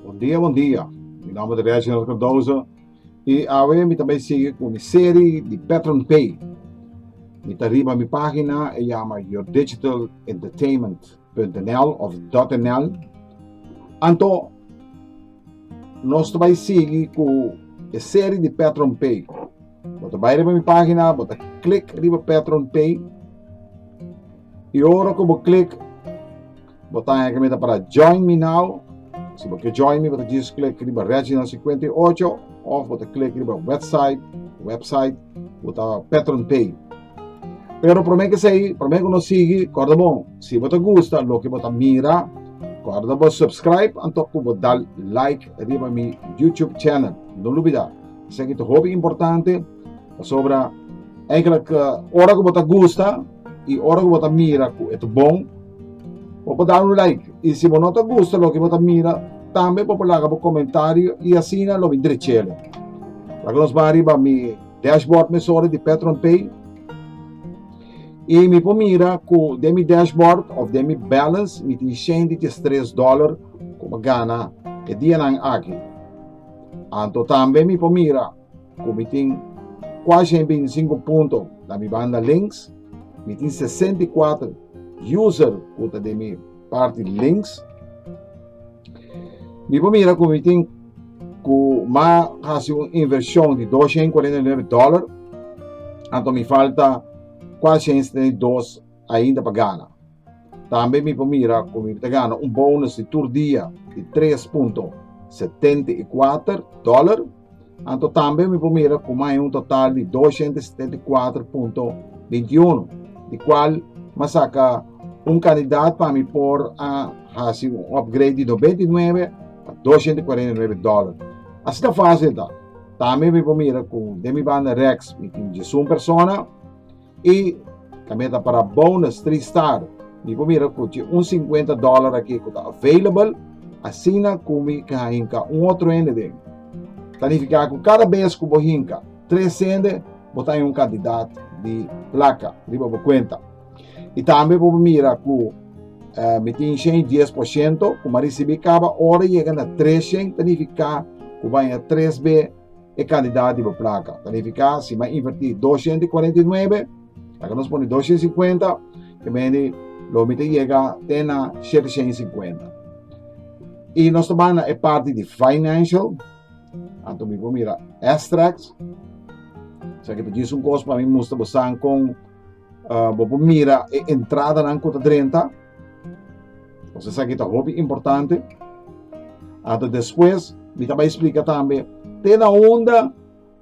Bon dia bon dia mi nomber ta Reginald Cardoso y awe mi ta bay sigui cu mi serie di Patron Pay mi ta riba mi pagina e yama Your Digital Entertainment .nl of .nl anto nos ta bai sigui cu e serie di patron pay bo ta bai riba mi pagina bo ta click riba patron pay y ora cu bo click bo ta haña cu mi ta para join me now si bo quier join mi bo ta djis click riba Reginald cincuenta y ocho of bo ta click riba website website cu ta patron pay. Pero prome ke sei, prome ke no sigi, korda bon, si bo ta gusta loke bo ta mira, korda bo subscribe anto ku bo dal like riba mi YouTube channel. No lubida, esaki ta hopi importante, pasobra eigenlijk ora ku bo ta gusta i ora ku bo ta mira ku e ta bon, bo por dal un like. I si bo no ta gusta loke bo ta mira, tambe bo por laga bo komentario i asina lo mi drech'e. Laga nos bai riba mi. Dashboard mesora di Petron Pay. Y mi por mira cu den mi dashboard of den mi balance mi tin shende di stress dollar cu mi gana e dianan aki. Anto tambe mi por mira cu mi tin cuashi en binticinco punto na mi banda links. Mi tin sesenta y cuatro user cu ta den mi parti links. Mi por mira ku mi tin ku ma hasi un invershon di 249 dòlar, anto mi falta 472 ainda pa gana. Tambe mi por mira ku mi ta gana un bonus di tur dia di 3.74 dòlar. Anto tambe mi por mira kuma hay un total di 274.21 di cual ma saca un candidat pa mi por a haci un upgrade di 99 a 249 dólar. Así ta fácil ta. Tambe mi por mira cu de mi banda Rex mi tin 11 persona I tambe ta para bonus tri star. Mi por mira cu dje un cincuenta dollar aki cu ta available, asina cu mi ke a hinca un otro hende den. Ta nifica cu cada bes cu bo hinca tres hende, bo ta un cantidad di placa riba bo cuenta. I tambe bo por mira cu uh, mi tin shen dies por ciento, cu mi a ricibi caba ora yega na tres shen, ta nifica cu banja tres be, e kandidat di bo plaka. Kalifiká si m'a invertí doshienta i kuarenta i nuebe, laga nos pone doshienta i sikuenta, ke mende lo mi ta yega te na sheteshen i sikuenta. I nos ta bai na e parti di Financial, anto mi por mira Extracts, esaki ta djis un kos pa mi mustra bosan kon bo por mira e entradanan ku ta drenta. Nos esaki ta hopi importante. Ata despues, mi ta bai explica tambe te na onda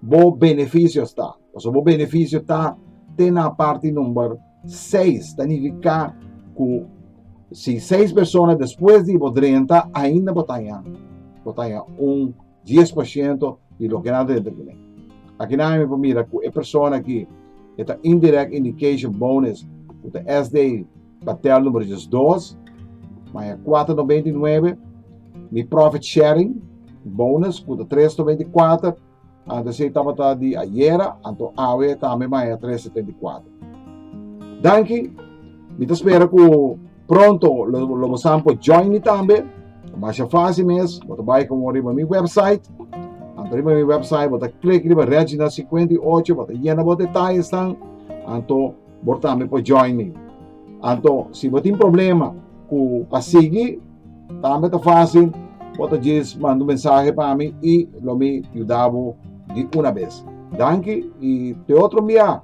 bo beneficio sta. Paso bo beneficio ta te na parte number 6. Ta nifica cu si 6 persona despues di bo drenta, ainda bo taña, bo taña un dies por shento di loke nan ta dentra kuné. Akinan mi por mira ku e persona aki e ta indirect indication bonus ku ta SDA Batel numero diesdos, maya kuater nobenta i nuebe, mi profit sharing bonus ku ta tres nobenta i kuater, anto esei tabata di ayera, anto awe tambe maya tres setenta i kuater. Danki, mi ta spera ku. Pronto lo, lo bo saben por join mi tambe. Masha fácil mes, bo ta bai como riba mi website. Anto riba mi website, bo ta klik riba Regina 58, bo ta llena bo detalles tan. Anto bo tambe por join mi. Anto si bo tin problema cu pa sigui, tambe ta fácil. Bo ta just manda un mensaje pa mi y lo mi yuda bo di una vez. Danki y te otro mbia.